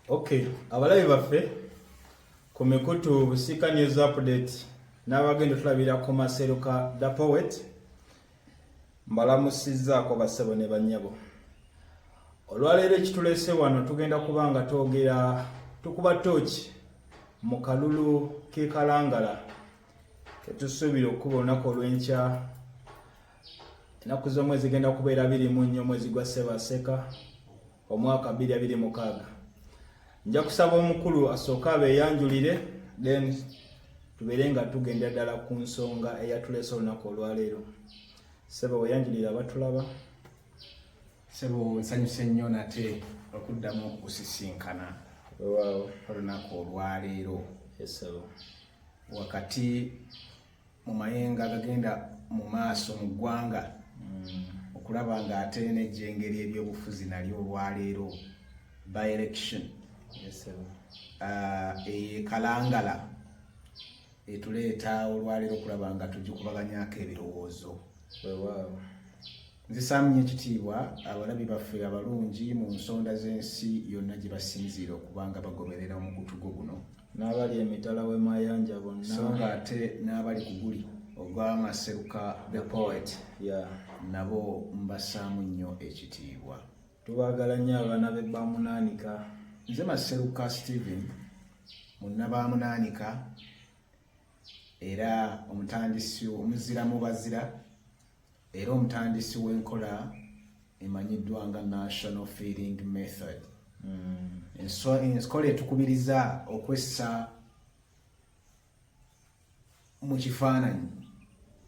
Okay, abalabi baffe ku mikutu Busika News Update n'abagenda otulabira ku masero ka The Poet mbalamusizzaako bassebo ne bannyabo. Olwaleero ekituleese wano tugenda kuba nga twogera tukuba tooki mu kalulu k'e Kalangala. tetusuubira okukuba olunaku olw'enkya ennaku z'omwezi zigenda kubeera biri mu nnyo omwezi gwa ssebaseka omwaka biri abiri mukaaga nja kusaba omukulu asooke abeeyanjulire then tubeere nga tugenda ddala ku nsonga eyatuleese olunaku olwaleero sebo weyanjulire abatulaba sebo nsanyuse nnyo nate okuddamu okusisinkana olunaku olwaleero esebo wakati mu mayenga agagenda mu maaso mu ggwanga mm. okulaba nga ate nejjengeri ebyobufuzi nalyo olwaleero by election ah, ekalangala etuleeta olwaleero okulaba nga tugikubaganyako ebirowoozo nzisaamunyo ekitiibwa abalabi baffe abalungi mu nsonda z'ensi yonna gye basinziira okuba nga bagoberera omukutu gwo guno n'abali emitala w'emayanja bonna so nga ate n'abali ku guli ogw'amaseruka the poet ya nabo mbassaamu nnyo ekitiibwa tubaagala nnyo abaana be bamunaanika nze maseruka stephen munnabamunaanika era omutandisi omuzira mu bazira Era omutandisi w'enkola emanyiddwa nga National Feeding Method. Mm. Enkola etukubiriza okwessa mu kifaananyi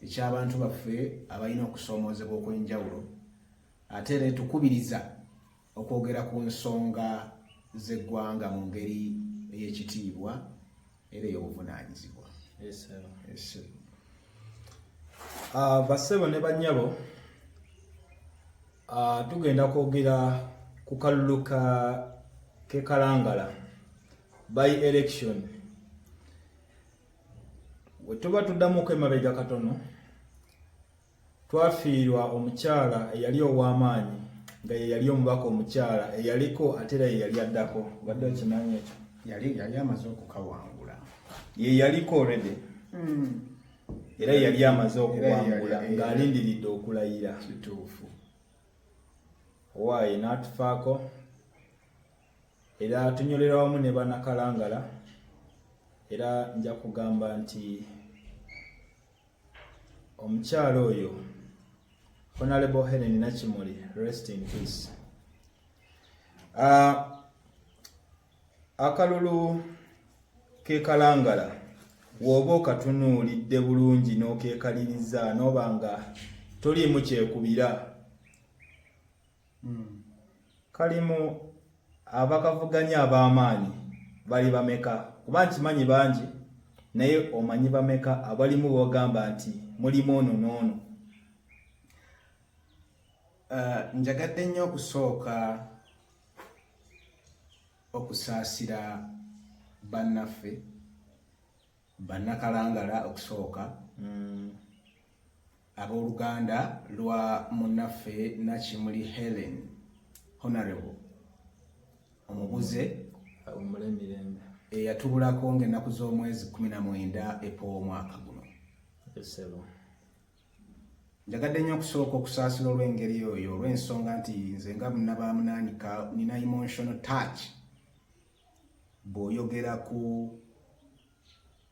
eky'abantu baffe abalina okusoomoozebwa okw'enjawulo ate era etukubiriza okwogera ku nsonga z'eggwanga mu ngeri ey'ekitiibwa era ey'obuvunaanyizibwa ah, bassebo ne bannyabo ah, tugenda kwogera ku kalulu ka kekalangala by election wetuba tuddamuko emabega katono Twafiirwa omukyala eyali ow'amaanyi nga ye yali omubaka omukyala eyaliko ate era ye yali addako badde okimanyi ekyo yali yali amaze okukawangula ye yaliko already hmm. era yali amaze okuwangula ng'alindiridde okulayira kituufu owaaye n'atufaako era tunyolera wamu ne banakalangala era nja kugamba nti omukyala oyo honorable helen nakimuli rest in peace uh, akalulu kekalangala woba okatunuulidde bulungi n'okekaliriza n'oba nga toliimu kyekubira kalimu abakavuganya ab'amaanyi bali bameka kuba nkimanyi bangi naye omanyi bameka abalimu bogamba nti mulimu ono n'ono eh, njagadde nnyo okusooka okusaasira bannaffe Bannakalangala okusooka mm. ab'oluganda lwa munnaffe Nakimuli Helen Honorable omubuze eyatubulako ng'ennaku z'omwezi kumi na mwenda epoowa omwaka guno njagadde nnyo okusooka okusaasira olw'engeri oyo olw'ensonga nti nze nga munnabaamunaanika nina emotional touch bw'oyogera ku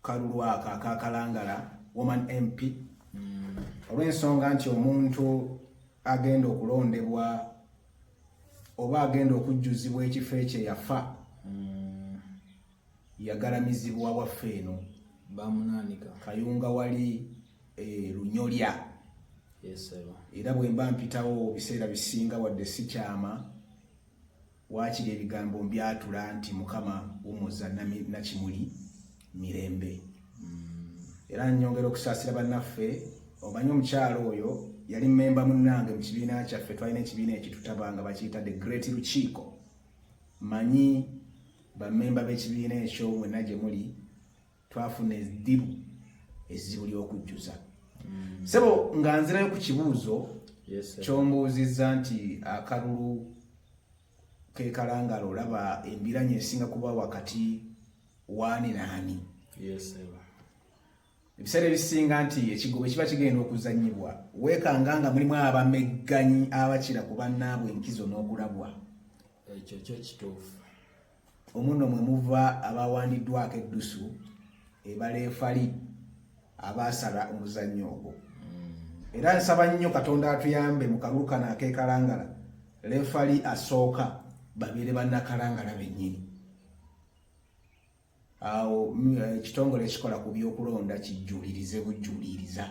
kalulu ako akakalangala woman mp mm. olw'ensonga nti omuntu agenda okulondebwa oba agenda okujjuzibwa ekifo ekyo yafa mm. yagalamizibwa waffe eno bamunanika kayunga wali e, lunyolya era bwe mba mpitawo biseera bisinga wadde sikyama Waakiri ebigambo mbyatula nti Mukama wummuza Nakimuli mirembe. Era nnyongera okusaasira bannaffe, omanyi omukyala oyo yali mmemba munnange mu kibiina kyaffe, twalina ekibiina ekitutaba nga bakiyita The Great Lukiiko. Mmanyi bammemba b'ekibiina ekyo mwenna gye muli, twafuna eddibu ezzibu ly'okujjuza mm. sebo nga nzirayo ku kibuuzo kyombuuzizza nti akalulu kekalangala olaba embiranye esinga kuba wakati waani naani ebiseera ebisinga nti ekigobo kiba kigenda okuzanyibwa weekanga nga mulimu abamegganyi abakira ku bannaabwe enkizo n'okulabwa ekyo kyo kituufu Omuno mwe muva abaawandiddwako eddusu ebaleefali abaasala omuzannyo ogwo mm. era nsaba nnyo katonda atuyambe mu kalulu kano akekalangala leefali asooka babeere bannakalangala bennyini awo mm, eh, ekitongole ekikola ku byokulonda kijjulirize bujjuliriza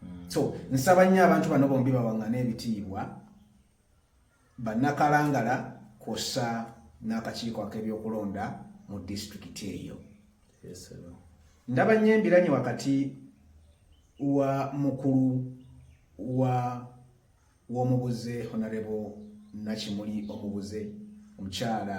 mm. so nsaba nnyo abantu bano bombi bawaŋŋana ebitiibwa bannakalangala kwossa n'akakiiko ak'ebyokulonda mu disitulikiti eyo ndaba nnyo embiranye wakati wa mukulu wa w'omubuze honarebo nakimuli omubuze omukyala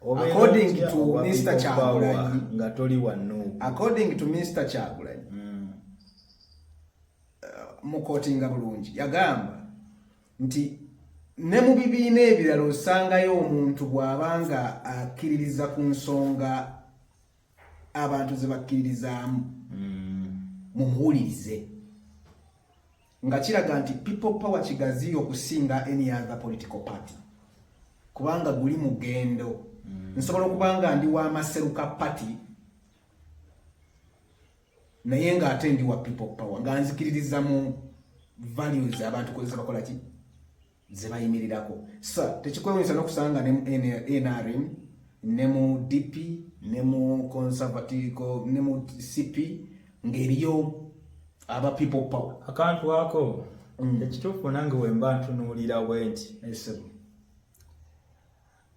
according to Mr Kyagulanyi nga toli wanno according to Mr Kyagulanyi mm. uh, mukotinga bulungi yagamba nti ne mu bibiina ebirala osangayo omuntu bw'aba nga akkiririza ku nsonga abantu ze bakkiririzaamu mm. mumuwulirize nga kiraga nti people power kigaziyo okusinga any other political party kubanga guli mugendo mm. nsobola okuba nga ndi wa maseruka party naye nga ate ndi wa people power nga nzikiririza mu values abantu kozesa bakola ki zebayimirirako sa tekikwewunyisa nokusanga ne nrm ne mu dp ne mu conservative ne mu cp ngeriyo aba people power akantu ako mm. ekituufu nange wemba ntunuulira bwenti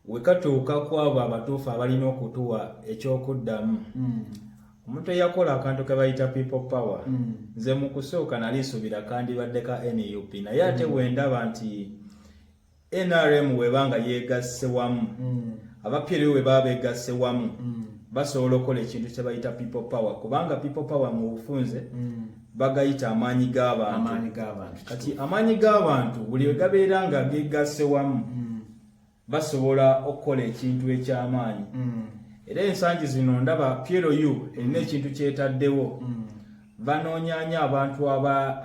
We katuuka ku abo abatuufu abalina okutuwa eky'okuddamu, mm. omuntu eyakola akantu ke bayita people power mm. nze mu kusooka nali nsuubira kandibadde ka nup naye ate mm. wendaba nti nrm weba nga yeegasse wamu abapyeriwe we baba beegasse wamu basobola okukola ekintu kye bayita people power kubanga people power mu bufunze bagayita amaanyi g'abantu kati amaanyi g'abantu buli we gabeera nga geegasse wamu basobola okukola ekintu eky'amaanyi mm. era ensangi zino ndaba plu erina ekintu kyetaddewo mm. banoonyanya abantu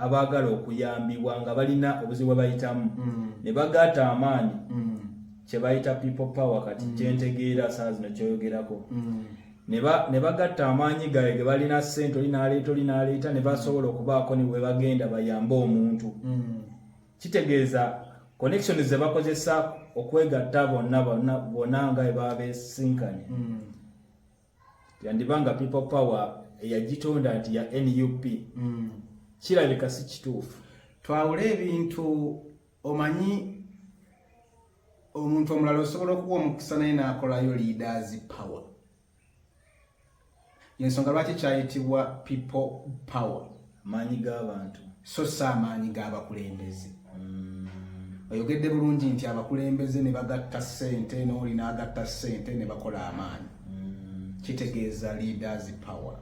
abaagala okuyambibwa nga balina obuzibu bwebayitamu mm. ne bagaata amaanyi kyebayita people power kati kyentegeera saa zino kyoyogerako ne bagatta amaanyi gaabwe ge balina ssente oli n'aleeta oli n'aleeta ne basobola okubaako ne bwe bagenda bayambe omuntu kitegeeza connections ze bakozesa okwegatta bonna bonna nga ebaba besinkanye mm. yandiba nga people power eyagitonda nti ya nup mm. kirabika si kituufu twawule ebintu omanyi omuntu omulala osobola okuwa omukisa naye nakolayo leaders power yensonga lwaki kyayitibwa people power maanyi g'abantu so si amaanyi g'abakulembeze mm. oyogedde bulungi nti abakulembeze ne bagatta ssente n'oli n'agatta ssente ne bakola amaanyi mm. kitegeeza leaders power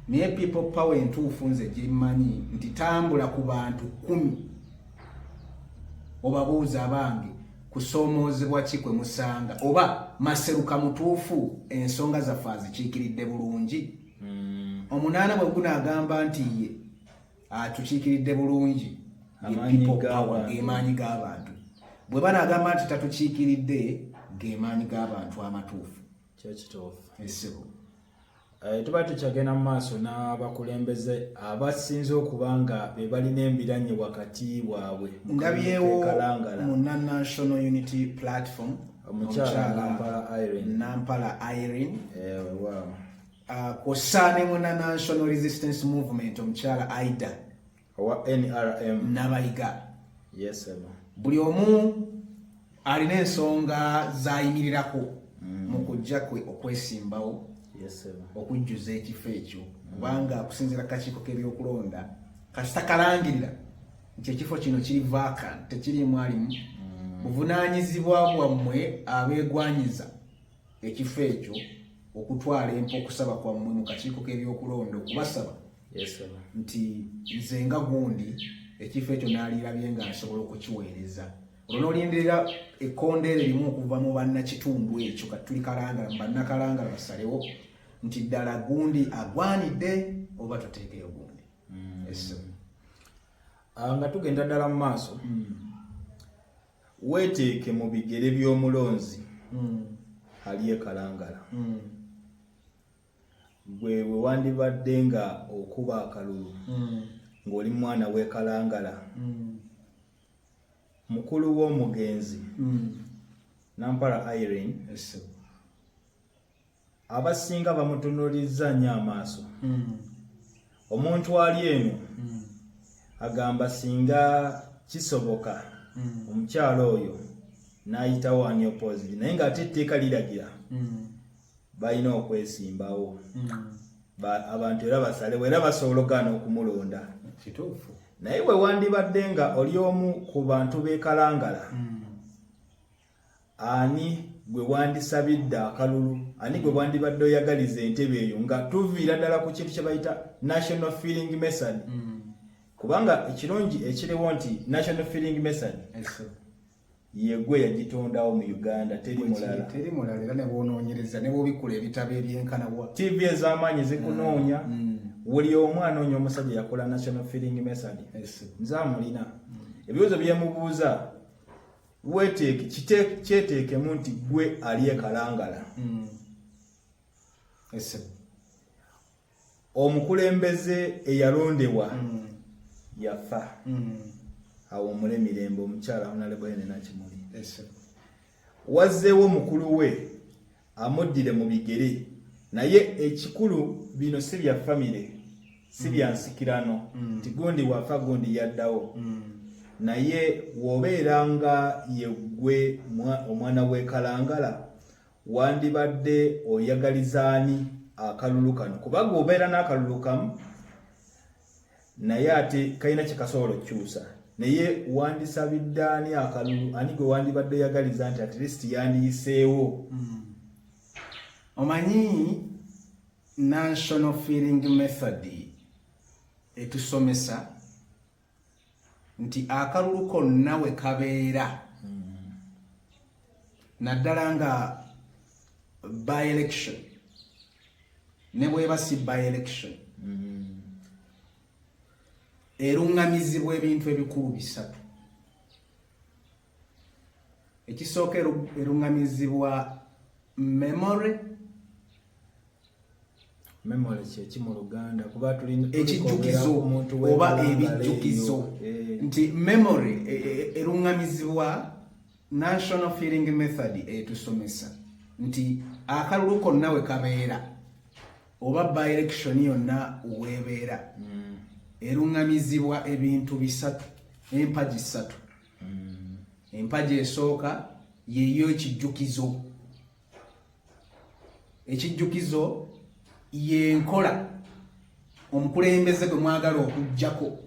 naye people power entuufu nze gyemmanyi nti tambula ku bantu kumi obabuuza abange kusoomoozebwa ki kwe musanga oba maseruka mutuufu ensonga zaffe azikiikiridde bulungi hmm. omunaana bwe gunaagamba nti ye atukiikiridde bulungi gemaanyi g'abantu bwe banaagamba nti tatukiikiridde gemaanyi g'abantu amatuufu kyekituufu ekisibu eh, tuba tukyagenda mu maaso n'abakulembeze abasinze okuba nga be balina embiranye wakati waabwe ndabyewo mu national unity platform nampala irene eh, ah, kwossa ne muna national resistance movement omukyala aida owa nrm nabayiga yes, buli omu alina ensonga zayimirirako mm. mu kujja kwe okwesimbawo okujjuza ekifo ekyo kubanga kusinzira kakiiko k'ebyokulonda kasita kalangirira nti ekifo kino kiri vakan tekirimu alimu mm. buvunanyizibwa bwammwe abegwanyiza ekifo ekyo okutwala empa okusaba kwammwe mu kakiiko k'ebyokulonda okubasaba nti nze nga gundi ekifo ekyo naalirabye nga nsobola okukiweereza olwo nolindirira ekkonda eryo limu okuva mu bannakitundu ekyo kati tuli kalangala mu bannakalangala basalewo nti ddala gundi agwanidde oba tuteekeyo gundi mm. Ah, nga tugenda ddala mu maaso mm. Weeteeke mu bigere by'omulonzi mm. ali e Kalangala. Mm. Gwe bwe wandibadde nga okuba akalulu mm. ng'oli mwana w'e Kalangala, mukulu w'omugenzi Nampala Irene abasinga bamutunulizza nnyo amaaso hmm. omuntu ali eno hmm. agamba singa kisoboka hmm. omukyalo oyo n'ayitawo ani oppositi naye ng'ate etteeka liragira balina okwesimbawo abantu era basalewo era basobola ogaana okumulonda kituufu naye bwe wandibadde nga oli omu ku bantu bekalangala mm. ani gwe wandisabidde akalulu ani gwe wandibadde oyagaliza entebe eyo nga tuviira ddala ku kintu kye bayita national feeling method mm. kubanga ekirungi ekiriwo nti national feeling method yegwe yagitondawo mu uganda teri mulala teri mulala era nebwonoonyereza nebwobikula ebitabo ebyenkana wa tv ez'amaanyi zikunoonya mm. mm. buli omu anoonya omusajja yakola national feeling method nze amulina mm. ebibuzo byemubuuza weteeke kyeteekemu nti gwe ali ekalangala mm. omukulembeze eyalondebwa mm. yafa mm. awumule mirembe omukyala onalebwayo nenakimuli wazzeewo mukulu we amuddire mu bigere naye ekikulu bino si bya famire si bya mm. nsikirano mm. nti gundi wafa gundi yaddawo mm. naye wobeera nga yeggwe omwana w'ekalangala wandibadde oyagalizaani akalulu kano kubaga obeera n'akalulu kamu naye ate kalina kye kasobola okukyusa naye wandisabidde ani akalulu ani gwe wandibadde oyagaliza nti at least yandiyiseewo hmm. omanyi national feeling method etusomesa nti akalulu konna we kabeera naddala nga by election ne bweba si by election erungamizibwa ebintu ebikulu bisatu ekisooka erungamizibwa memory memory kyeki mu luganda kuba tulina ekijjukizo oba ebijjukizo eh. nti memory e, e, e, erungamizibwa national feeling method etusomesa nti akalulu konna we kabeera oba by election yonna weebeera hmm. erungamizibwa ebintu bisatu empagi ssatu mm. empaji esooka yeyo ekijjukizo ekijjukizo yenkola omukulembeze gwe mwagala okujjako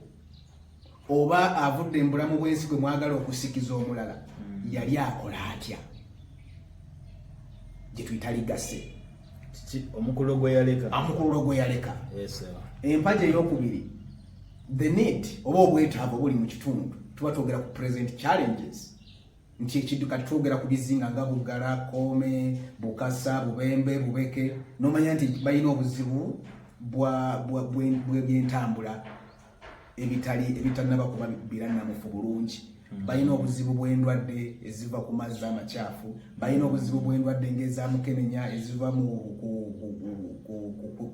oba avudde embulamu bwensi gwe mwagala okusikiza omulala mm. yali akola atya gyetuyita ligase omukululo gwe yaleka empagi eyokubiri the need oba obwetaavu obuli mu kitundu tuba twogera ku present challenges nti ekintu kati twogera ku bizinga nga bugala kome bukasa bubembe bubeke nomanya nti balina obuzibu bwebyentambula ebitali ebitanaba kuba biranamufu bulungi hmm. balina obuzibu bwendwadde eziva ku mazzi amakyafu balina obuzibu bwendwadde ngaezamukenenya eziva mu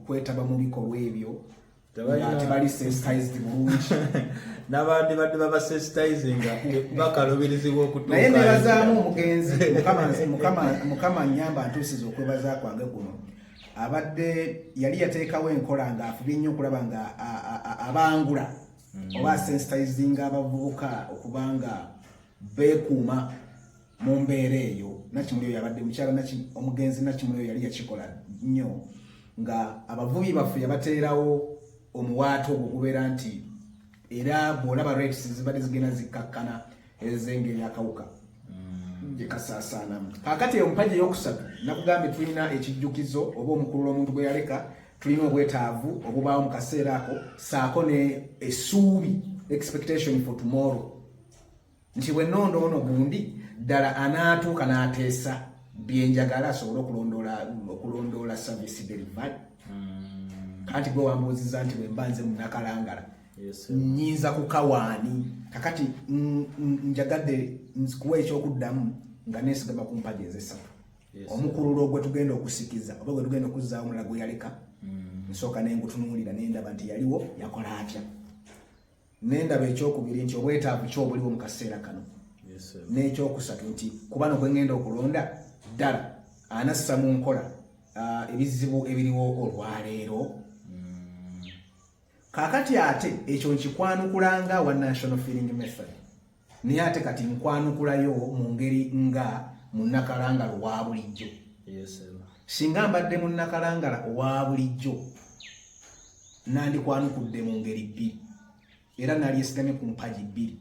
kwetaba mu bikolwa ebyo tebali sensitized bulungi n'abandi badde baba sensitizinga bakalubirizibwa okutuukaye naye nebazaamu omugenzi mukama nyamba ntuusiza okwebaza kwange kuno abadde yali yateekawo enkola nga afubye nnyo okulaba nga abangula mm. oba sensitizinga abavubuka okubanga beekuuma mu mbeera eyo nakimuli oyo yabadde mukyala omugenzi nakimuli oyo yali yakikola nnyo nga abavubi baffe yabateerawo omuwaata ogwo gubeera nti era bwolaba rates zibadde zigenda zikkakkana ezengeri akawuka mm. gyekasaasaanamu kakati eyo mpagi eyokusatu nakugambye tulina ekijjukizo oba omukululo omuntu gwe yaleka tulina obwetaavu obubaawo mu kaseera ako saako ne esuubi expectation for tomorrow nti bwe nnonda ono gundi ddala anaatuuka n'ateesa byenjagala asobole okulondoola service delivery hmm. kanti gwe wambuuziza nti bwe mba nze munakalangala nyinza kukawaani kakati njagadde nzikuwa ekyokuddamu nga neesigama ku mpaji ezesatu omukululo gwe tugenda okusikiza oba gwe tugenda okuzzaawo omulala gwe yaleka hmm. nsooka nengutunuulira nendaba nti yaliwo yakola atya Nendaba ekyokubiri nti obwetaavu ki obuliwo mu kaseera kano, n'ekyokusatu nti ku bano kwe ngenda okulonda ddala anassa mu nkola ah, ebizibu ebiriwo olwaleero. Hmm. Kaakati ate ekyo nkikwanukula nga wa national feeling method. naye ate kati nkwanukulayo mu ngeri nga munnakalangala owa bulijjo singa mbadde munnakalangala owa bulijjo nandikwanukudde mu ngeri bbiri era nalyesigamye ku mpagi bbiri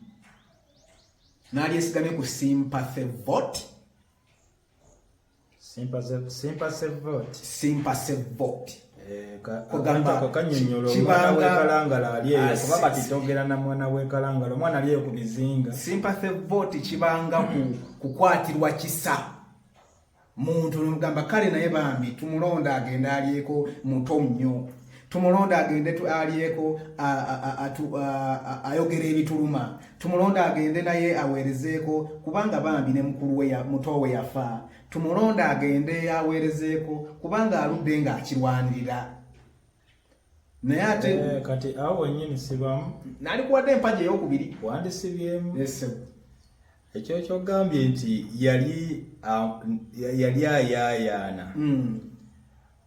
nalyesigamye ku sympathy vote simpa se simpa se vote simpa se vote eh, kanyonyolokibangaalangala alieyo ah, kuba batitogera na mwana wekalangala omwana alieyo ku bizinga sympathy vote kibanga kukwatirwa kisa muntu nomugamba kale naye bambi tumulonda agenda alieko muto mnyo tumulonda agende alyeko ayogera ebituluma tumulonde agende naye aweerezeeko kubanga bambi ne mukulu we muto we yafa tumulonde agende aweerezeeko kubanga aludde ng'akirwanirira naye ate eh, kati awo wenyini sibamu nali kuwadde empaji eyokubiri wandisibyemu ekyo kyogambye nti yali yali ayaayaana hmm.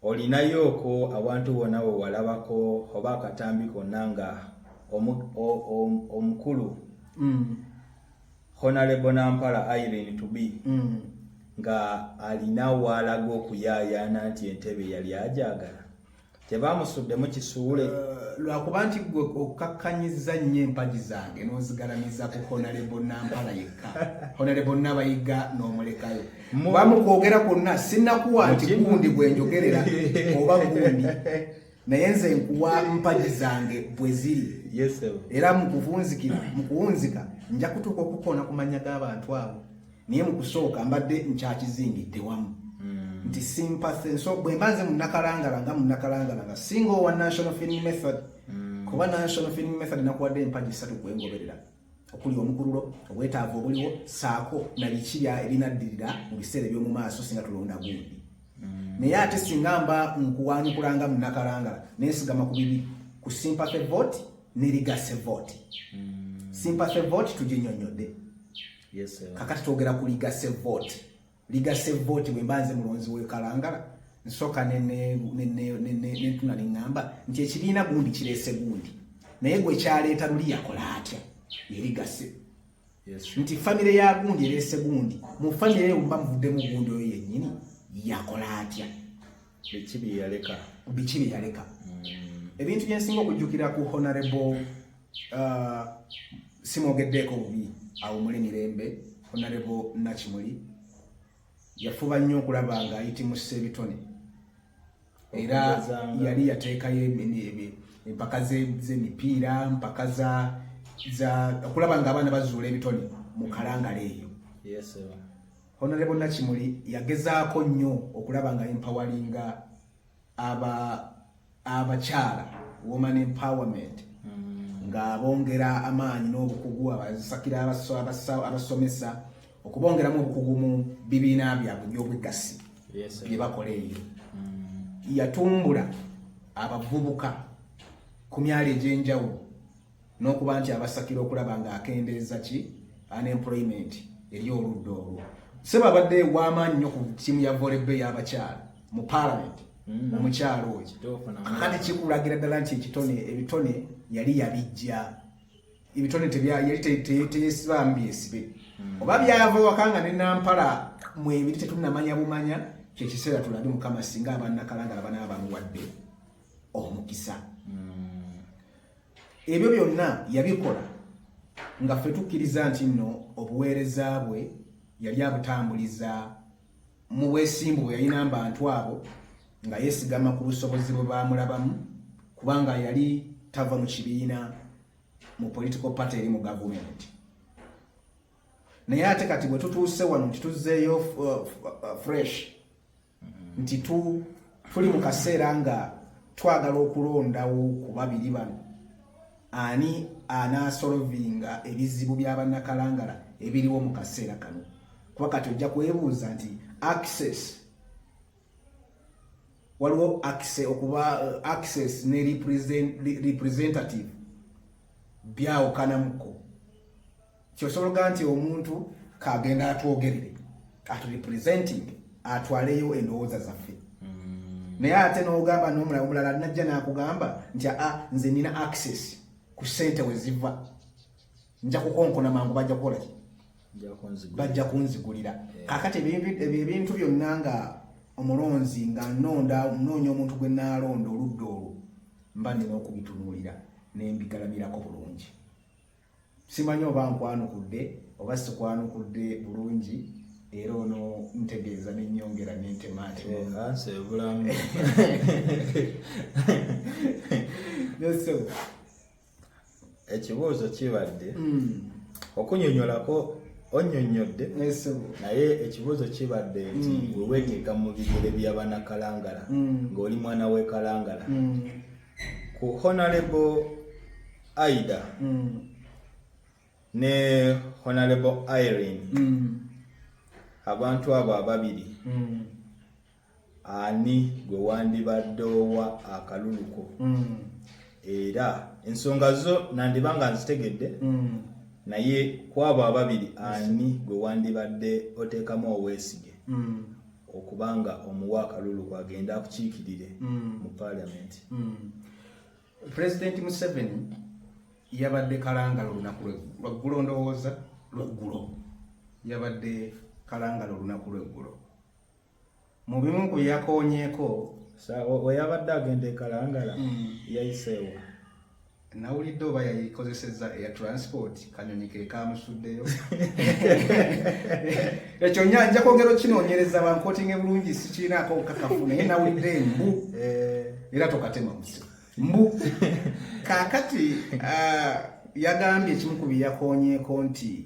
Olinayooko awantu wona wewalabako oba akatambi konna nga omukulu mm. Honalebo Nampala Irene to be mm. nga alina waalaga okuyaayaana nti entebe yali agyagala tebamusuddemu kisuule uh, lwakuba nti gwe okakkanyiza nnyo empagi zange n'ozigalamiza ku honalebo nampala yekka honalebo nabayiga n'omulekayo muba mu kwogera kwonna sinakuwa nti gundi gwe njogerera oba gundi naye nze nkuwa mpagi zange bwe ziri era mu kuvunzikira mu kuwunzika nja kutuuka okukoona ku mannya g'abantu abo naye mu kusooka mbadde nkyakizingidde wamu hmm. nti sympathy so bwe mba nze munakalangala nga munakalangala nga singa owa national film method hmm. kuba national film method nakuwadde empagi satu kwengoberera mm. okuli omukululo obwetaavu obuliwo saako na biki ebinaddirira mu biseera eby'omu maaso singa tulonda gundi mm. naye ate singa mba nkuwanyikulanga mu nakalangala nensigama ku bibi ku sympathy vote ne ligase vote mm. sympathy vote tuginyonyodde kakati twogera ku ligase vote ligase vote bwe mbanze mulonzi we kalangala nsoka ne ne ne ne ne tuna lingamba nti ekibina gundi kirese gundi naye gwe kyaleeta luli yakola atya yeligase yes. nti famire ya gundi erese gundi mu famire eyo mba muvudde mu gundi oyo yennyini yakola atya biki bye yaleka biki bye yaleka mm. ebintu bye nsinga okujjukira ku honorable uh, simwogeddeeko bubi awo muli mirembe honorable nakimuli yafuba nnyo okulaba nga ayitimusa ebitone era yali yateekayo empaka z'emipiira mpaka za okulaba nga abaana bazuula ebitone mu kalangala eyo Honorable Nakimuli yagezaako nnyo okulaba nga empawalinga aba abakyala woman empowerment mm. nga abongera amaanyi n'obukugu abasakira abasomesa okubongeramu obukugu mu bibiina byabwe by'obweggasi bye bakola eyo mm. yatumbula abavubuka ku myalo egy'enjawulo n'okuba nti abasakira okulaba ng'akendeeza ki unemployment eri oludda olwo sebo abadde w'amaanyi nnyo ku ttiimu ya volebbe y'abakyala mu paalamenti mm. omukyala oyo kakati kikulagira ddala nti ekitone ebitone yali yabijja ebitone yali teyesibamu byesibe mm. oba byava waka nga ne nampala mwebiri tetunamanya bumanya kyekiseera tulabe mukama singa abanakalangala banaaba bamuwadde omukisa ebyo byonna yabikola nga ffe tukkiriza nti nno obuweereza bwe yali abutambuliza mu bwesimbu bwe yalina mbantu abo nga yeesigama ku busobozi bwe baamulabamu kubanga yali tava mu kibiina mu political party eri mu gavumenti naye ate kati bwe tutuuse wano nti tuzzeeyo uh, uh, uh, fresh nti tuli mu kaseera nga twagala okulondawo ku babiri bano ani anaasolovinga ebizibu bya bannakalangala ebiriwo mu kaseera kano kuba kati ojja kwebuuza nti access waliwo access okuba eh, access ne representative byawukanamuko kyosologa nti omuntu kagenda atwogerere aturepresenting atwaleyo endowooza zaffe mm. naye ate n'ogamba n'omulabe omulala najja n'akugamba nti a ah, nze nina access ku sente we ziva nja kukonkona mangu bajja kukola ki bajja kunzigulira eh. kakati ebintu byonna nga omulonzi nga nonda noonya omuntu gwe naalonda oludda olwo mba nina okubitunuulira nembigalamirako bulungi Simanyi oba nkwanukudde oba sikwanukudde bulungi era ono ntegeeza nenyongera nentemaatemaansi ebulamu ekibuuzo kibadde hmm. okunyonyolako onyonyodde naye ekibuuzo kibadde nti hmm. weweteeka mu bigere byabanakalangala hmm. ng'oli mwana wekalangala ku honalebo Aida mm. ne Honorable Irene mm. abantu abo ababiri mm. ani gwe wandibadde owa akaluluko mm. era ensonga zo nandiba nga nzitegedde mm. naye kwabo ababiri ani gwe wandibadde oteekamu obwesige mm. okubanga omuwa akaluluko agenda akukiikirire mm. mu paalamenti mm. Pulezidenti Museveni yabadde kalangala olunaku lweggulo ndowooza lweggulo yabadde kalangala olunaku lweggulo mu bimu ku yakonyeeko weyabadde agenda ekalangala mm. yayiseewo nawulidde oba yayikozesezza eya transport kanyonyi ke kamusuddeyo ekyo nya nja kwogera okinoonyereza bankotinge bulungi sikiinaako obukakafu naye nawulidde embu eh. era tokatema musi mbu kaakati ah, yagambye ekimu ku byeyakonyeeko nti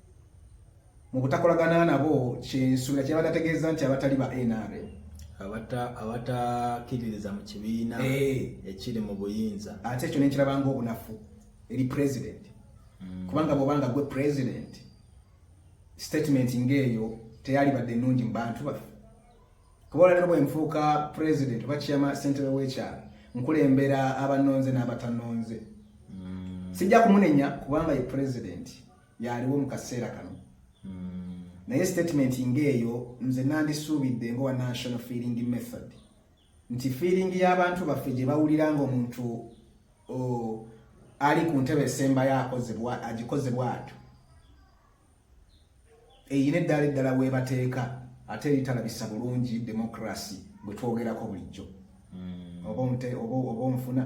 mu butakolagana nabo kyensuubira kyabadde ategeeza nti abatali ba nrm abatakiririza mu kibiina eh. ekiri mu buyinza ate ekyo nenkiraba ngaobunafu eri president hmm. kubanga bwobanga gwe president statement ngaeyo teyalibadde ennungi mu bantu baffe kuba olwalero bwenfuuka president oba kiyama sentebe wekyalo nkulembera abanonze n'abatanonze hmm. sijja kumunenya kubanga ye president yaaliwo mu kaseera kano hmm. naye statement ng'eyo nze nandisuubidde ngowa national feeling method nti feeling y'abantu baffe gye bawulira ng'omuntu ali ku ntebe esembayo akozebwa agikozebwa atyo eyina eddaala eddala weebateeka ate eritalabisa bulungi demokrasi bwe twogerako bulijjo hmm. oba omufuna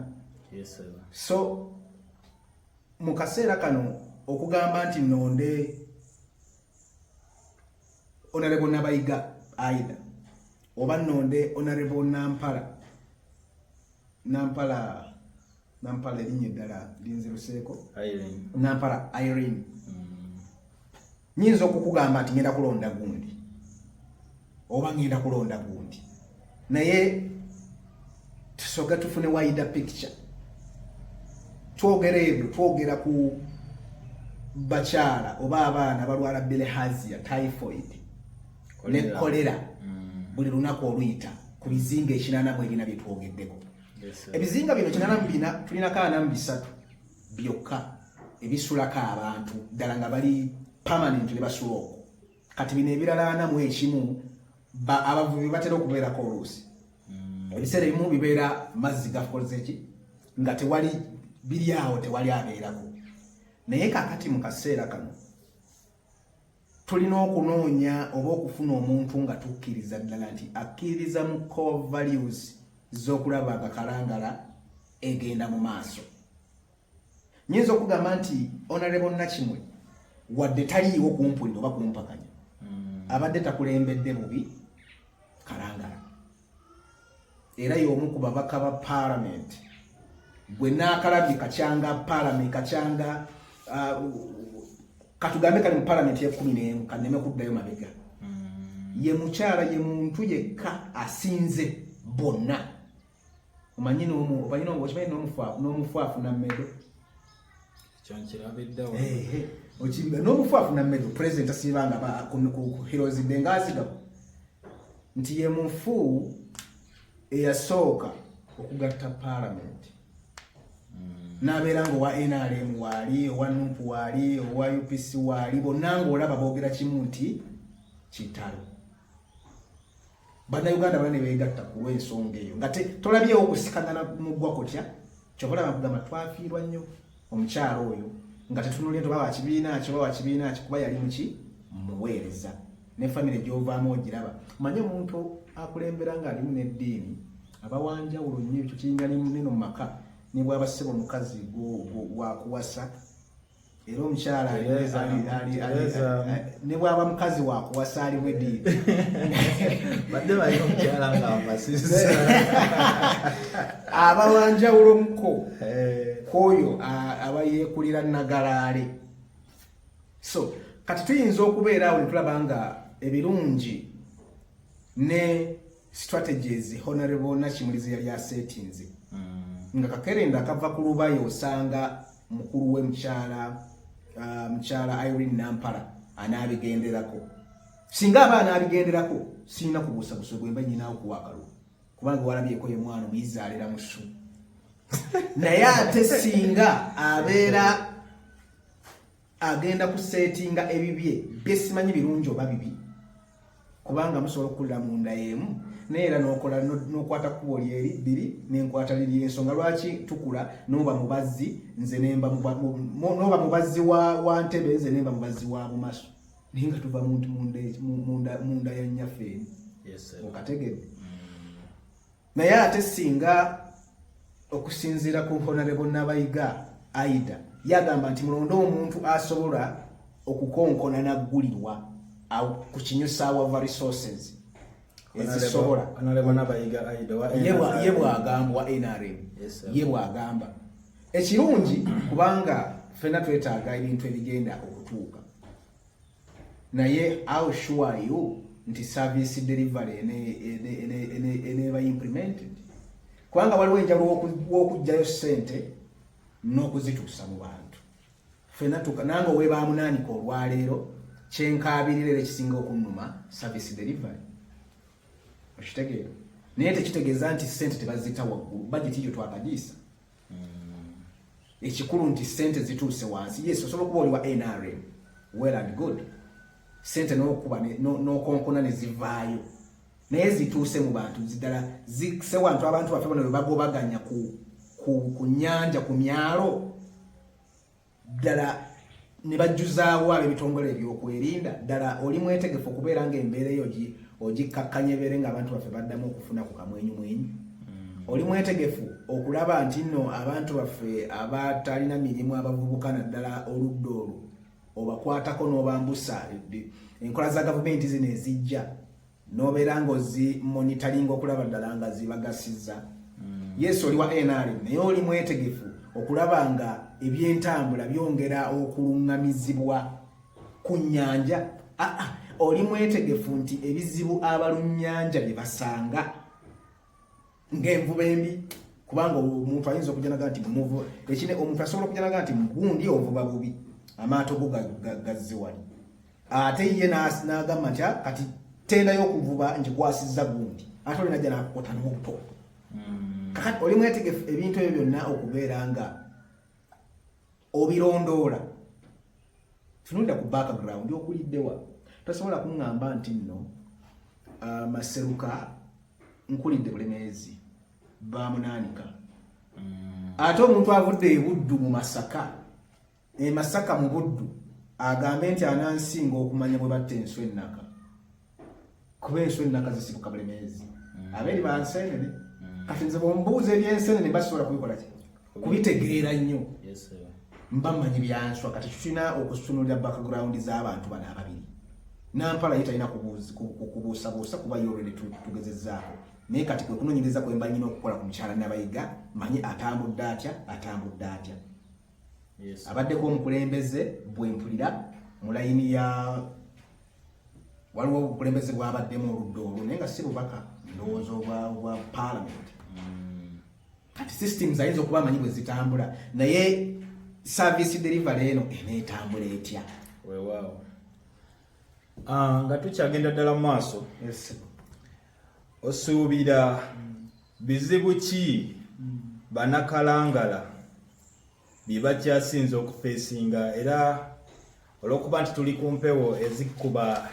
so mu kaseera kano okugamba nti nonde onarebo nabayiga aida oba nonde onarebo nampala nampala nampala erinnya eddala linziruseeko nampala irene mm. Nyinza okukugamba nti ngenda kulonda gundi oba ngenda kulonda gundi, naye tusoga tufune wayida picture. Twogera ebyo twogera ku bakyala oba abaana balwala bilehazia, typhoid ne kolera mm. buli lunaku oluyita ku bizinga ekinana mu ebina byetwogeddeko. Ebizinga bino kinana mu bina tulinako ana mu bisatu byokka ebisulako abantu ddala nga bali permanent ne basula okwo kati bino ebirala ana mu ekimu abavubi batera okubeerako oluusi hmm. ebiseera ebimu bibeera mazzi gakolzeki nga tewali biri awo tewali abeerako naye kakati mu kaseera kano tulina okunoonya oba okufuna omuntu nga tukkiriza ddala nti akkiririza mu core values z'okulaba nga kalangala egenda mu maaso nyinza okugamba nti onarebo nakimwe wadde taliiwo kumpulira oba kumpakanya mm. abadde takulembedde bubi kalangala era y'omu ku babaka ba paalamenti gwe naakalabye kakyanga paalamenti kakyanga uh, katugambe kali mu paalamenti yekumi n'emu kaneme kuddayo mabega mm. ye mukyala ye muntu yekka asinze bonna omanyi n'omu omanyi n'omu okimanyi n'omufu n'omufu afuna mmedo okimbe n'omufu afuna mmere pulezidenti asiibanga heroes de ngaazigamu nti ye mufu eyasooka okugatta paalamenti hmm. nabeera nga owa nrm waali owa nup waali owa upc waali bonna ngaolaba boogera kimu nti kitalo bannayuganda bana nebegatta ku lw'ensonga eyo nga tolabyewo okusikagana muggwa kutya kyova olaba kugamba twafiirwa nnyo omukyalo oyo nga tetunulya toba wakibiina ki oba wakibiina ki kuba yali muki muweereza ne famire gyovaamu ogiraba manye omuntu akulembera ng'alimu n'eddiini abawanjawulo nnyo ekyo kiyinga nino mu maka ne bwaba ssebo omukazi wakuwasa era omukyala ne bwaba mukazi wakuwasa ali wedi badde bali omukyala nga amasisa aba wanjawulo muko eh. kwoyo aba yekulira nagalaale so kati tuyinza okubeera awo netulaba nga ebirungi ne strategies honorable nakimulizi yali asetinze mm. nga kakerenda akava ku lubayo osanga mukulu we mukyala uh, mukyala Irene Nampala anaabigenderako singa aba anaabigenderako sirina kubuusa busa gwemba nyinaawo kuwa akalulu kubanga walabyeko ye mwana omuyizaalira mu ssu naye ate singa abeera agenda kuseetinga ebibye byesimanyi birungi oba bibi kubanga musobola okukulira mu nda y'emu naye era nokola nokwata kkubo lyeri bbiri nenkwata liri ensonga lwaki tukula noba mubazzi nze nemba noba mubazzi wa ntebe nze nemba mubazzi wa mumaso naye nga tuva muntu munda ya nyaffe emu okategedde naye ate singa okusinziira ku honarebo nabayiga aida yagamba nti mulonde omuntu asobola okukonkona naggulirwa ku kinyusa wava resources ezisobola ye bwagamba wa nrm ye bwagamba ekirungi kubanga fena twetaaga ebintu ebigenda okutuuka naye how sure are you nti service delivery eneeba implemented kubanga waliwo enjala wokujjayo sente n'okuzituusa mu bantu fena tuka nange owebaamunaanika olwaleero kyenkaabirira era ekisinga okunnuma service delivery okitegeera naye tekitegeeza nti sente tebazita waggulu bajeti yo twakagiisa ekikulu nti sente zituuse wansi yes osobola okuba oli wa nrm well and good sente nokuba nokonkona nezivaayo naye zituuse mu bantu zidala zise wantu abantu baffe bona webagobaganya ku, ku, ku nyanja ku myalo ddala ne bajjuzaawo ab'ebitongole ebyokwerinda ddala oli mwetegefu okubeera nga embeera eyo ogikkakkanya ebeere nga abantu baffe baddamu okufuna ku kamwenyumwenyu mm. oli mwetegefu okulaba nti nno abantu baffe abatalina mirimu abavubuka naddala oludda olwo obakwatako n'obambusa enkola za gavumenti zino ezijja nobeera nga ozi monitalinga okulaba ddala nga zibagasiza mm. yes oli wa nrm naye oli mwetegefu okulaba nga ebyentambula byongera okulungamizibwa ku nyanja ah, ah, oli mwetegefu nti ebizibu abalunnyanja bye basanga ng'envuba embi kubanga omuntu ayinza okujanaga nti muvuba ekine omuntu asobola okujanaga nti mugundi ovuba bubi amaato go gazze wali ate ye n'agamba nti ah, kati tenda y'okuvuba ngikwasizza gundi ate oli najja nakukota n'obuto hmm. kakati oli mwetegefu ebintu ebyo byonna okubeera nga obirondoola tunulira ku background okuliddewa tosobola kuŋŋamba nti nno uh, maseruka nkulidde bulemeezi bamunaanika mm. ate omuntu avudde ebuddu mu masaka emasaka mu buddu agambe nti anansinga okumanya bwe batta enswa ennaka kuba enswa ennaka zisibuka buli myezi mm. abeeri ba nseenene mm. kati nze bwombuuza ebyenseenene basobola kubikola ki kubitegeera nnyo mba manyi byanswa kati tulina okusunulira background z'abantu bano ababiri nampala ye talina kubuusabuusa kuba yolwene tugezezaako naye kati kwe kunonyereza kwemba nyina okukola ku mukyala nabayiga manyi atambudde atya atambudde atya abaddeko omukulembeze bwempulira mu layini ya waliwo obukulembeze bwabaddemu oludda olwo naye nga si bubaka ndowooza obwa palamenti mm. kati systems ayinza okuba amanyi bwe zitambula naye service delivery eno eneetambula etya wewaawo ah, nga tukyagenda ddala mu maaso osuubira bizibu ki banakalangala bye bakyasinze okufeesinga era olw'okuba nti tuli ku mpewo ezikuba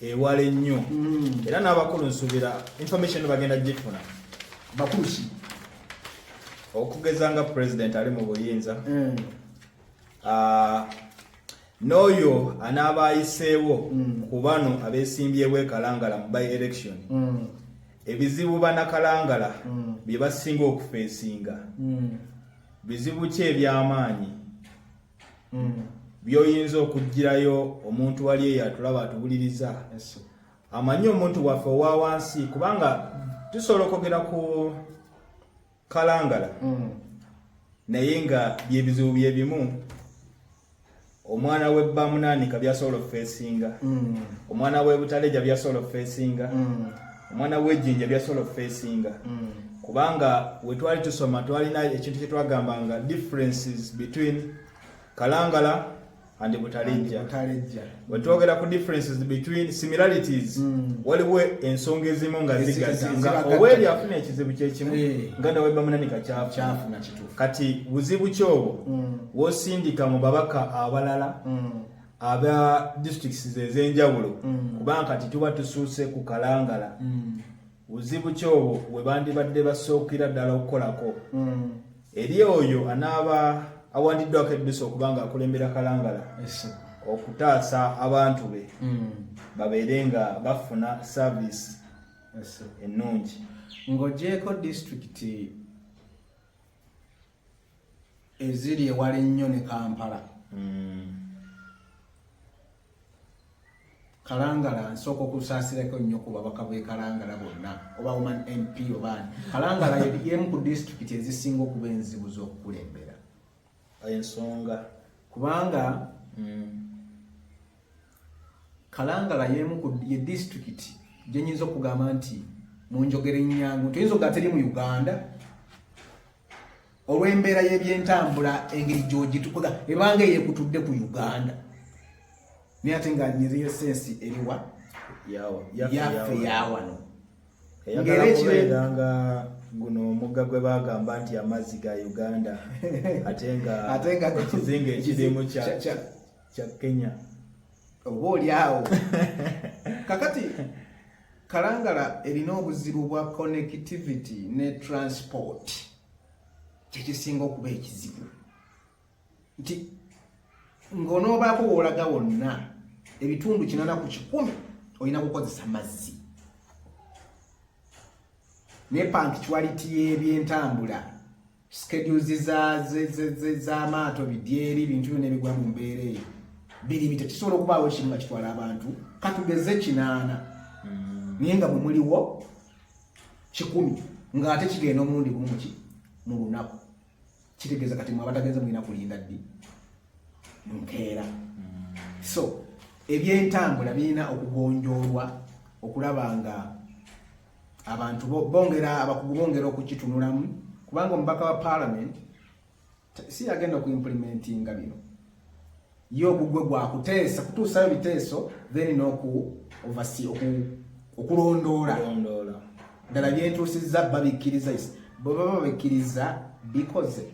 ewala ennyo hmm. era n'abakulu nsuubira information bagenda gifuna bakulu ki okugeza nga president ali mu buyinza hmm. ah, n'oyo anaaba ayiseewo mm. ku bano abeesimbyewo ekalangala mu by election mm. ebizibu banakalangala mm. bye basinga okufeesinga bizibu ki eby'amaanyi byoyinza okugirayo omuntu wali eyo atulaba atuwuliriza amanyi omuntu waffe owa wansi kubanga tusobola okwogera ku kalangala mm. naye nga byebizibu byebimu omwana we bamunaanika byasobola okufeesinga mm. omwana we butaleja byasobola okufeesinga mm. omwana wejinja byasobola okufeesinga mm. kubanga wetwali tusoma twalina ekintu kyetwagambanga differences between kalangala and butalejja bwe twogera ku differences between similarities mm. waliwo ensonga ezimu nga zigatta nga oweri afuna ekizibu kyekimu eh. nga nawe bamunani kakyafuna kati buzibu kyobo mm. wosindika mu babaka abalala mm. aba districts ezenjawulo mm. kubanga kati tuba tusuuse ku kalangala mm. buzibu ki obwo bwe bandibadde basookera ddala okukolako hmm. eri oyo anaaba awandiddwako eddusa okuba nga akulembera kalangala okutaasa abantu be hmm. babeere nga bafuna saaviisi ennungi ng'ogyeko disitulikiti eziri ewala ennyo ne kampala hmm. kalangala nsooka okusaasirako nnyo ku babaka bwekalangala bonna oba woman mp obaani kalangala yemu ku disitulikiti ezisinga okuba enzibu z'okukulembera ensonga kubanga hmm. kalangala yemu ye disitulikiti gyenyinza okugamba nti munjogera ennyangu toyinza okuga teri mu uganda olw'embeera y'ebyentambula engeri gyogitukola ebanga eyekutudde ku uganda naye ate nga nyiziyo sensi eriwa yaffe yawano eyagala kubeera nga guno omugga gwe bagamba nti amazzi ga uganda ate nga ekizinga ekirimu kya kya Kenya oba oli awo kakati kalangala erina obuzibu bwa connectivity ne transport kyekisinga okuba ekizibu nti ng'onoobaako woolaga wonna ebitundu kinana ku kikumi olina kukozesa mazzi ne pankituality y'ebyentambula schedules z'amaato bidyeri bintu byona ebigwa mu mbeera eyo biri bite kisobola okubaawo ekimu nga kitwala abantu katugeze kinaana hmm. naye nga bwemuliwo kikumi ng'ate kigenda omulundi gumuki mu lunaku kitegeeza kati mwe abatagenze mulina kulinda ddi nkeera hmm. so ebyentambula birina okugonjoolwa okulaba nga abantu bongera abakugu bongera okukitunulamu kubanga omubaka wa parliament si yagenda ku implementinga bino ye ogugwe gwakuteesa kutuusayo biteeso then noku ovasi okulondoola ddala byetuusizza babikkiriza bwebaba babikkiriza bikoze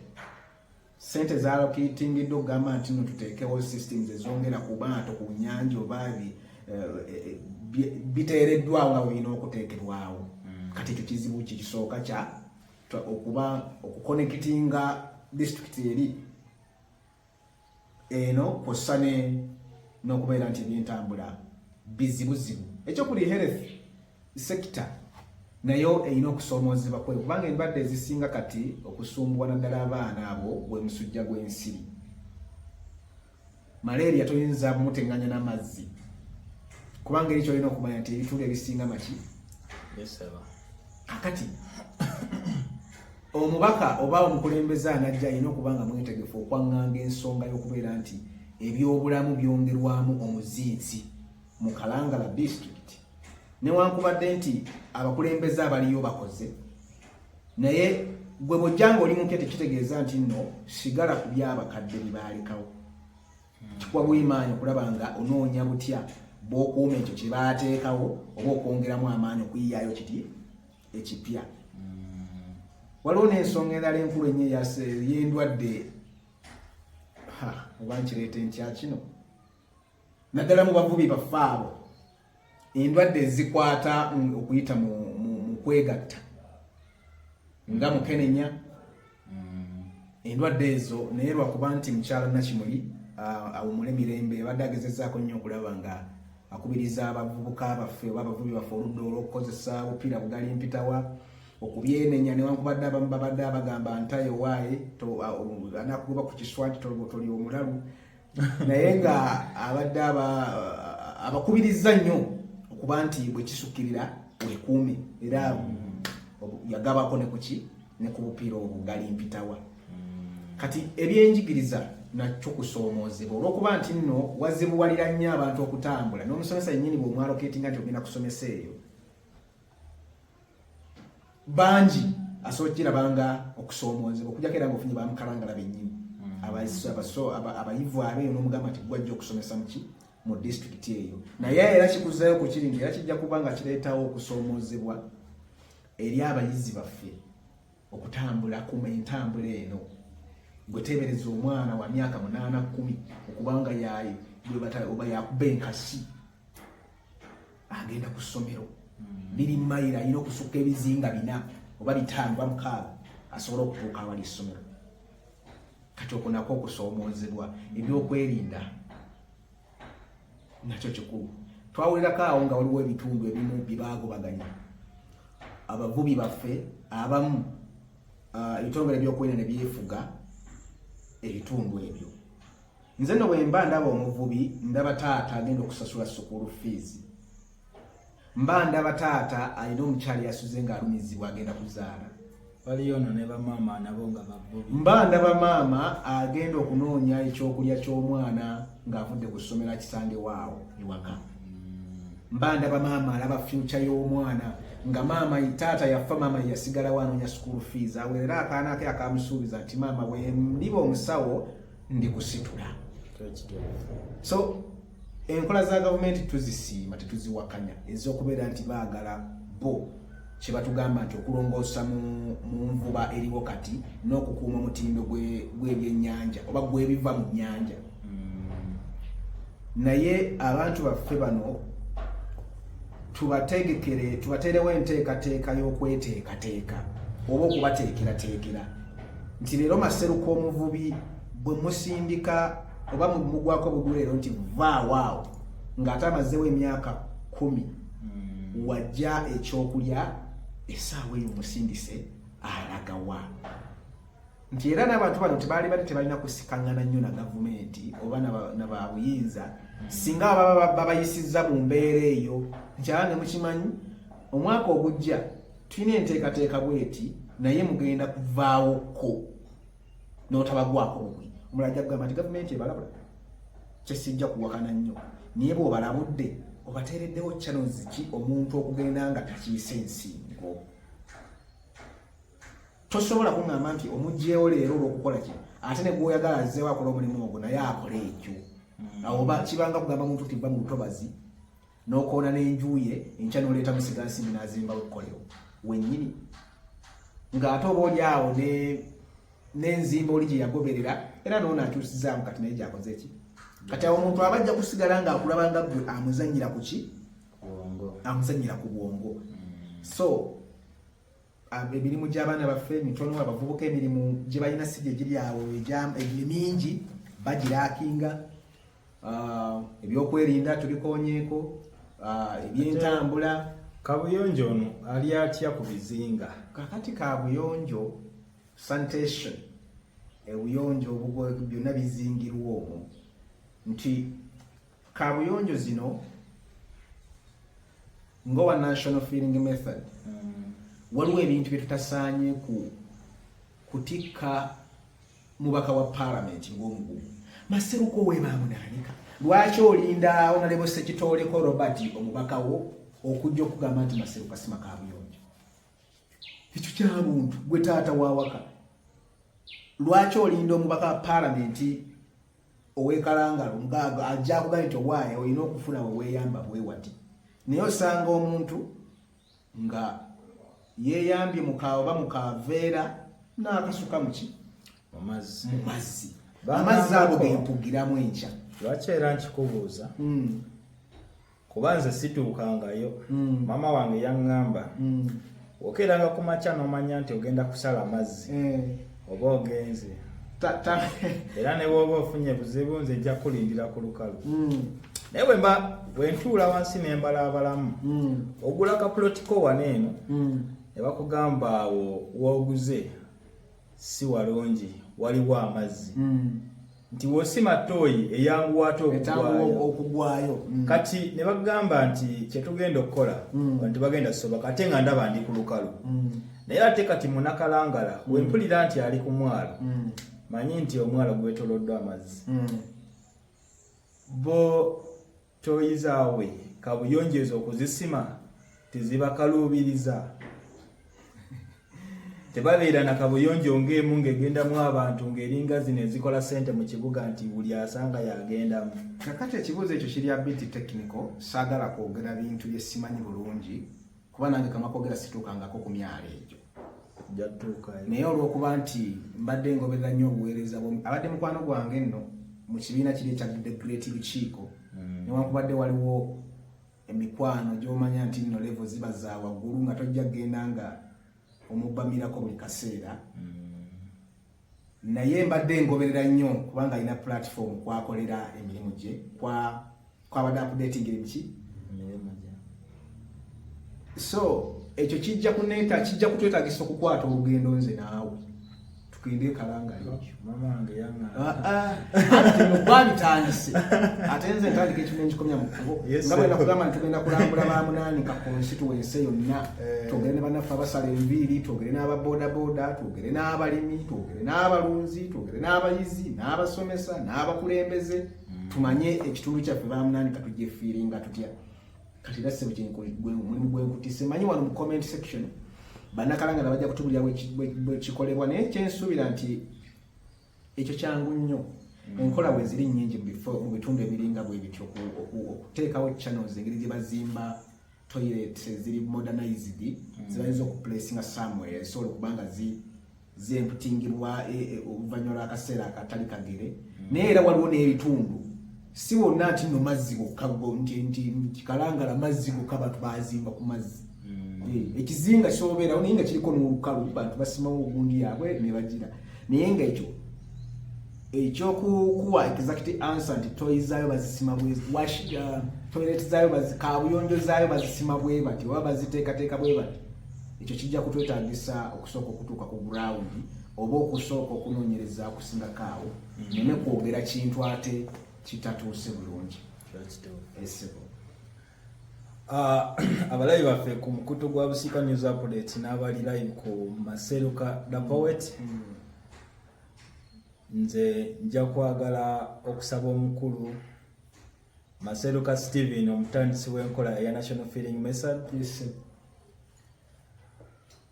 Sente zalokitingiddwa okugamba nti no tuteekewo systems ezongera ku baato ku nyanja oba eh, eh, biteereddwawo nga bulina okuteekebwawo hmm. kati ekyo kizibu kikisooka kya okuba okukonekitinga disitulikiti eri eno kwossa n'okubeera nti ebyentambula bizibuzibu ekyokuli health Sector nayo erina okusoomoozebwa kwe kubanga endwadde ezisinga kati okusumbuwa naddala abaana abo gwe musujja gw'ensiri malaria toyinza mutenganya n'amazzi kubanga eri kyolina okumanya nti ebitundu ebisinga maki akati omubaka oba omukulembeze anajja alina okuba nga mwetegefu okwaŋŋanga ensonga y'okubeera nti ebyobulamu byongerwamu omuzinzi mu kalangala disitulikiti newankubadde nti abakulembeze abaliyo bakoze naye gwe bwojjanga oli mupya tekitegeeza nti nno sigala ku byabakadde bibaalekawo kikuwa bwimaanyi okulaba nga onoonya butya bwokuuma ekyo kyebaateekawo oba okwongeramu amaanyi okuyiyaayo kiti ekipya hmm. waliwo n'ensonga endala enkulu enyo yendwadde oba nkireeta enkya kino naddala mu bavubi baffe abo endwadde ezikwata okuyita mu kwegatta nga mm. mukenenya mm. endwadde ezo naye lwakuba nti mukyala nakimuli awumule mirembe abadde agezezaako nnyo okulaba nga akubiriza abavubuka baffe oba abavubi baffe oludda olwokukozesa bupiira bugali mpitawa okubyenenya newankubadde abamu babadde abagamba ntayo waaye anakugoba ku kiswa nti toli omulalu naye nga abadde abakubirizza nnyo okuba nti bwekisukirira wekuume era mm. yagabako ne kuki ne ku bupiira obwo gali mpitawa mm. kati ebyenjigiriza nakyo kusoomoozebwa olwokuba nti nno wazibuwalira nnyo abantu okutambula n'omusomesa yennyini bw'omwaloketinga nti ogenda kusomesa eyo bangi asobola kiraba nga okusoomoozebwa okujako era nga ofunye bamukalangala bennyini hmm. abayivu abeeyo n'omugamba nti gwajja okusomesa muki mu disitulikiti eyo naye era kikuzayo ku kiri nti era kijja kuba nga kireetawo okusoomoozebwa eri abayizi baffe okutambula kuma entambula eno gwetebereza omwana wa myaka munaana kumi okubanga yaye oba yakuba enkasi agenda ku ssomero hmm. biri mayiro alina okusukka ebizinga bina oba bitaano ba mukaaga asobole okutuuka awali essomero kati okunako okusoomoozebwa ebyokwerinda nakyo kikulu twawulirako awo nga waliwo ebitundu ebimu byebaagobaganya abavubi baffe abamu ah, ebitongole byokwerinda ne byefuga ebitundu ebyo nze no bwemba ndaba omuvubi ndaba taata agenda okusasula sukulu fees mba ndaba taata alina omukyali yasuze nga alumizibwa agenda kuzaala mba ndaba maama agenda okunoonya ekyokulya ky'omwana ng'avudde ku ssomero akisange waawo ewaka mm. mba ndaba maama alaba fyuca y'omwana nga maama taata yafa maama yeyasigalawo anoonya sukulu fees awerera akaana ke akamusuubiza nti maama bwe ndiba omusawo ndi kusitula so enkola za gavumenti tuzisiima tetuziwakanya ezokubeera nti baagala bo kyebatugamba nti okulongoosa mu nvuba eriwo kati n'okukuuma omutindo gw'ebyenyanja oba gwebiva mu nyanja mm. naye abantu baffe bano tubategekere tubateerewo enteekateeka y'okweteekateeka oba okubateekerateekera nti leero maseruka omuvubi bwe musindika oba mugwako bugulu leero nti vaawaawo ng'ate amazeewo emyaka kumi hmm. wajja ekyokulya esaawa eyo musindise alagawa nti era n'abantu bano tebaali bali tebalina kusikangana nnyo na gavumenti oba na babuyinza hmm. singa baba babayisizza mu mbeera eyo nti aba ne mukimanyi omwaka ogujja tulina enteekateeka bweti naye mugenda kuvaawo ko notabagwako bumwe omula ajja kugamba nti gavumenti ebalabula kyesijja kuwakana nnyo naye bwobalabudde obateereddewo channels ki omuntu okugenda nga takiise ensingo tosobola kuŋamba nti omugyewo leero olwokukola ki ate ne gwoyagala azzeewo akola omulimu ogwo naye akola ekyo hmm. awo kibanga kugamba muntu nti va mu lutobazi n'okoona n'enju ye enkya n'oleeta musigansimbi n'azimbawo ekkolero wennyini ng'ate oba oli awo n'enzimba oli gye yagoberera era noona atuusizaamu kati naye gyakoze ki kati awo omuntu aba ajja kusigala ng'akulaba nga gwe amuzannyira ku ki amuzannyira ku bwongo so emirimu gy'abaana baffe mitono abavubuka emirimu gye balina si gye giri awo egiri mingi bagiraakinga ah, ebyokwerinda tubikonyeeko ah, ebyentambula kabuyonjo ono ali atya ku bizinga kakati kabuyonjo sanitation ebuyonjo byonna bizingirwa omwo nti kabuyonjo zino ngowa national feeling method mm. waliwo ebintu byetutasaanye ku kutikka mubaka wa parliament ng'omugugu maseruko webamunanika lwaki olinda onalebo sekitooleko robert omubaka wo okujja okugamba nti maseruka sima kabuyonjo ekyo kyabuntu gwe taata wawaka lwaki olinda omubaka wa parliament owekalangalo mugaaga ajja kuga nti owaaye olina okufuna weweyamba bwewati naye osanga omuntu nga yeyambye mukaawa oba mukaaveera n'akasuka muki mu mazzi amazzi ago gempugiramu enkya lwaki era nkikubuuza hmm. kuba nze situukangayo mm. maama wange yaŋŋamba mm. okeeranga ku makya n'omanya nti ogenda kusala mazzi eh. oba ogenze era ne bwoba ofunye buzibu nze ejja kulindira ku lukalu mm. naye bwemba bwentuula wansi nembalaabalamu mm. ogula kapulotiko wana eno mm. ne bakugamba awo wooguze si walungi waliwo amazzi mm. nti wosima tooyi eyanguwa ate okugwayo mm. kati ne bagamba nti kyetugenda okukola mm. nti bagenda soboka ate nga ndaba ndi ku lukalu mm. naye ate kati munakalangala mm. wempulira nti ali ku mwalo mm. manyi nti omwalo gwetoloddwa amazzi mm. bo Tooyi zaabwe kabuyonjo ezo okuzisima tezibakaluubiriza tebabeera na kabuyonjo ng'emu ng'egendamu abantu ng'eringa zino ezikola ssente mu kibuga nti buli asanga yagendamu kakati ekibuuzo ekyo kiri abiti technical saagala kwogera bintu bye simanyi bulungi kuba nange kamwa kogera situukangako ku myalo egyo naye olwokuba nti mbadde ngoberera nnyo obuweereza bw abadde mukwano gwange nno mu kibiina kiri ekya the great lukiiko hmm. newankubadde waliwo emikwano gyomanya nti nno levo ziba za waggulu nga tojja kugenda nga omubbamirako buli kaseera hmm. naye mbadde ngoberera nnyo kubanga alina platform kwakolera emirimu gye kwa kwabadde updating ebiki so ekyo kijja kuneta kijja kutwetagisa okukwata olugendo nze naawe tugende kalangalbabitandise ate nze ntandika ekimu ekikomya mu kubo nga bwena kugamba nti tugenda kulambula ba munaani ka konsituwense yonna eh. twogere ne banaffe abasala enviiri twogere n'aba bodaboda twogere n'abalimi twogere n'abalunzi twogere n'abayizi n'abasomesa n'abakulembeze mm. tumanye ekitundu kyaffe bamunani katugyefiiringa tutya kati era ssebo kyemulimu gwenkutise manyi wano mu comment section banakalangana bajja kutubulira bwekikolebwa naye kyensuubira nti ekyo kyangu nnyo mm. enkola bwe ziri nnyingi mu bitundu ebiringa bwe bityo okuteekawo channels engeri gye bazimba toilet ziri modernized mm. zibayinza okuplacinga somewere zisobola okuba nga zemputingibwa e, e, oluvannyuma lw'akaseera akatali kagere mm. naye era waliwo n'ebitundu si wonna nti no mazzi gokka nti kikalangala mazzi gokka bantu bazimba ku mazzi mm. eh, ekizinga kyobeerawo naye nga kiriko n'olukalu bantu basimawo ogundi yaabwe nebagira naye nga ekyo ekyokukuwa exact answer nti toyi zaayo bazisima bwewashiga uh, toilet zaayo kabuyonjo zaayo bazisima bwe bati oba baziteekateeka bwe bati ekyo kijja kutwetagisa okusooka okutuuka ku gurawundi oba okusooka okunoonyereza okusingako awo neme kwogera kintu ate kitatuuse bulungi esebo ah, abalayi baffe ku mukutu gwa busika news update n'abali live ku maseruka the poet mm. nze nja kwagala okusaba omukulu maseruka steven omutandisi w'enkola eya national feeling message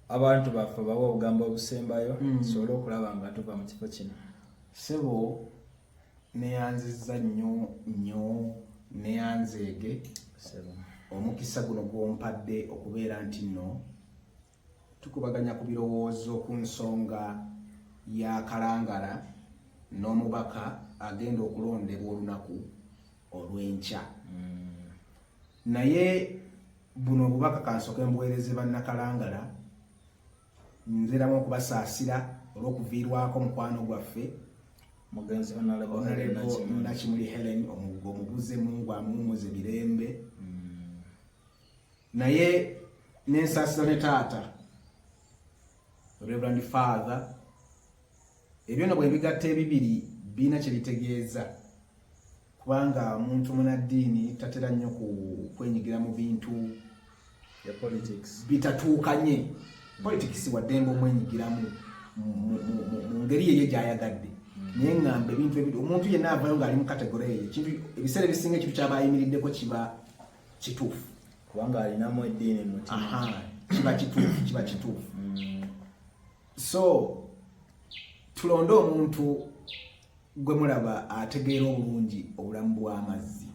abantu baffe bawa obugambo obusembayo hmm. tusobole okulaba nga tuva mu kifo kino sebo neyanziza nnyo nnyo neyanzeege omukisa guno gwompadde okubeera nti nno tukubaganya ku birowoozo ku nsonga ya kalangala n'omubaka agenda okulondebwa olunaku olw'enkya hmm. naye buno obubaka kansoke mbuweereze bannakalangala nziramu okubasaasira olw'okuviirwako mukwano gwaffe mugenzi nakimuli helen omugo omubuze mungu amuwumuze mirembe hmm. naye nensaasira ne taata reverand father ebyo no bwebigatta ebibiri birina kye bitegeeza kubanga omuntu munaddiini tatera nnyo kwenyigira mu bintu bitatuukanye politics waddembe omwenyigiramu mu ngeri yeyo gyayagadde naye ngamba ebintu ebiri omuntu yenna avayo ngaali mu kategore eyo ekintu ebiseera ebisinga ekintu kyaba ayimiriddeko kiba kituufu kubanga alinamu eddiini mutima kiba kituufu kiba kituufu mm. so tulonde omuntu gwe mulaba ategeera obulungi obulamu bw'amazzi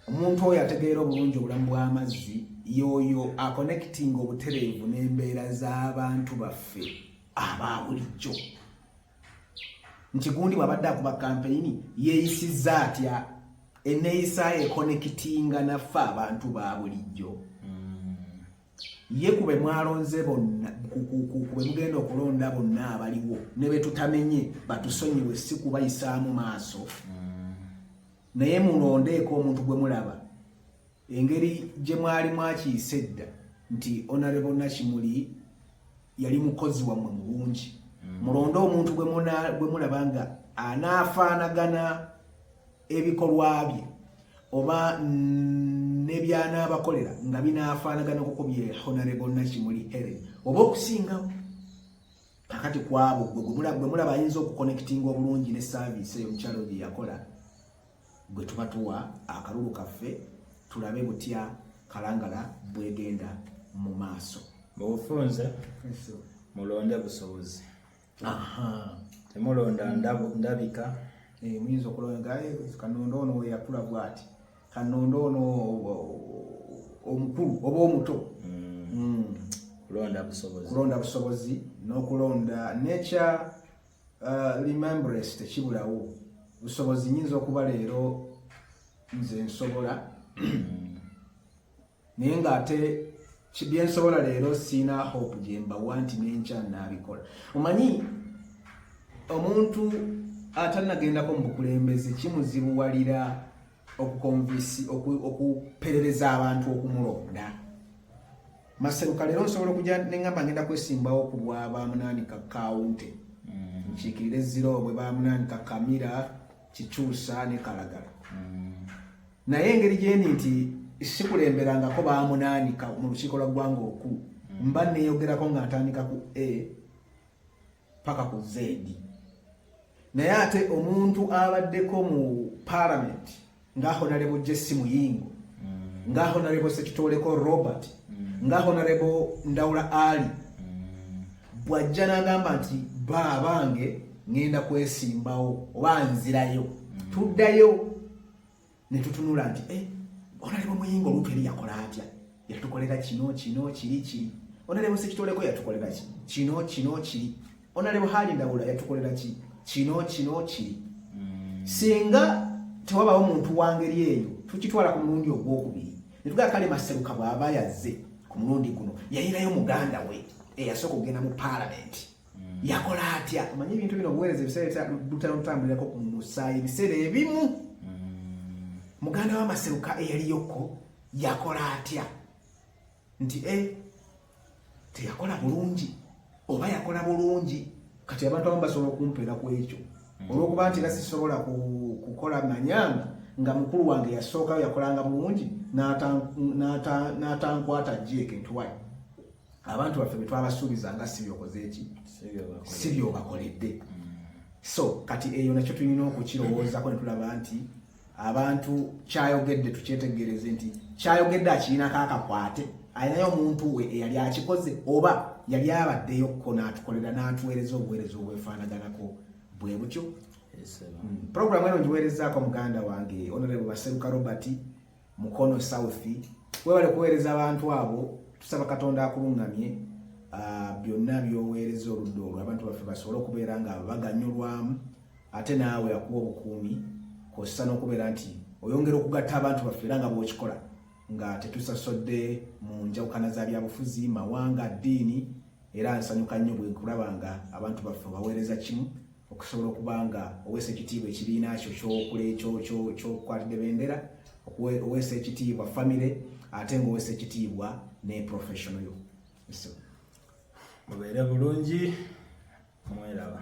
omuntu oyo ategeera obulungi obulamu bw'amazzi yooyo akonekitinga obutereevu n'embeera z'abantu baffe aba bulijjo nti gundi bw'abadde akuba kampeyini yeeyisizza atya enneeyisa ekonekitinga naffe abantu ba bulijjo ye ku be mwalonze bonna ku be mugenda okulonda bonna abaliwo ne be tutamenye batusonyiwe si kubayisaamu maaso mm. naye mulondeeko omuntu gwe mulaba engeri gye mwali mwakiyise edda nti onarebo nakimuli yali mukozi wammwe mu bungi mm. mulonde omuntu gwe mulaba nga anaafaanagana ebikolwa bye oba nebyanabakolera nga binafaanagana kuko bye honarebo nakimuli heren oba okusingawo kakati kwabo gwe mulaba ayinza okukonectinga obulungi ne saavisi eyo omukyalo gye yakola gwe tuba tuwa akalulu kaffe tulabe butya kalangala bwegenda mu maaso mubufunze mulonde busobozi temulonda ndabika eh, muyinza okulonda eh, kanonda ono weyakula bwati kanonda ono omukulu oba omuto hmm. Hmm. kulonda busobozi n'okulonda nekya uh, remembrance tekibulawo busobozi nyinza okuba leero nze nsobola hmm. naye nga ate byensobola leero siina hope gyembawa nti nenkya naabikola omanyi omuntu atanagendako mu bukulembeze kimuzibuwalira okukonvisi okuperereza abantu okumulonda maseruka leero nsobola okuja neŋamba ngenda kwesimbawo ku bwa bamunaani ka kawunte mm. nkiikirire ziro bwe bamunaani ka kamira kikyusa ne kalagala mm. naye engeri gyendi nti sikulemberangako bamunaanika mu lukiiko lwa ggwanga oku hmm. mba neyogerako nga ntandika ku a paka ku zedi naye ate omuntu abaddeko mu palamenti nga honarebo jesi muyingo hmm. nga honarebo sekitoleko robert hmm. nga honarebo ndawula ali bwajja nagamba nti baabange ngenda kwesimbawo oba nzirayo tuddayo ne tutunula nti eh, onaleba omuyingo olutu eri yakola atya yatukolera kino kino kiri kiri onaleba sekitoleko yatukolera ki kino kino kiri onaleba hali ndawula yatukolera ki kino kino kiri hmm. singa tewabawo muntu wangeri eyo tukitwala ku mulundi ogwokubiri netugaa kale maseruka bwaba yazze ku mulundi guno yayirayo muganda we eyasooka okugenda mu paalamenti mm. yakola atya omanyi ebintu bino obuweereza ebiseera bitera otambulirako ku musaayi ebiseera ebimu mm. muganda wamaseruka eyaliyoko yakola atya nti e teyakola bulungi oba yakola bulungi kati abantu abamu basobola okumpeera ku ekyo mm. olwokuba nti era sisobola kukola manyanga nga mukulu wange yasookayo yakolanga bulungi n'atankwata jjeeke ntiwayo abantu baffe betwabasuubiza nga si byokoze eki si byobakoledde so kati eyo nakyo tulina okukirowoozako netulaba nti abantu kyayogedde tukyetegereze nti kyayogedde akirinako akakwate alinayo omuntu we eyali akikoze oba yali abaddeyo ko natukolera natuweereza obuweereza obwefaanaganako bwe butyo mm. programu eno ngiweerezaako muganda wange onorebu baseruka robert Mukono South webale kuweereza abantu abo tusaba Katonda akulungamye ah, byonna byoweereza oludda olwo abantu baffe basobole okubeera nga baganyulwamu ate naawe akuwa obukuumi kossa n'okubeera nti oyongera okugatta abantu baffe era nga bwokikola nga tetusasodde mu njawukana za byabufuzi mawanga ddiini era nsanyuka nnyo bwe nkulaba nga abantu baffe baweereza kimu okusobola okuba nga oweesa ekitiibwa ekibiina kyo kyokule kyokukwatidde bendera oweesa ekitiibwa famire ate nga oweesa ekitiibwa ne professiono yo mubeere bulungi mweraba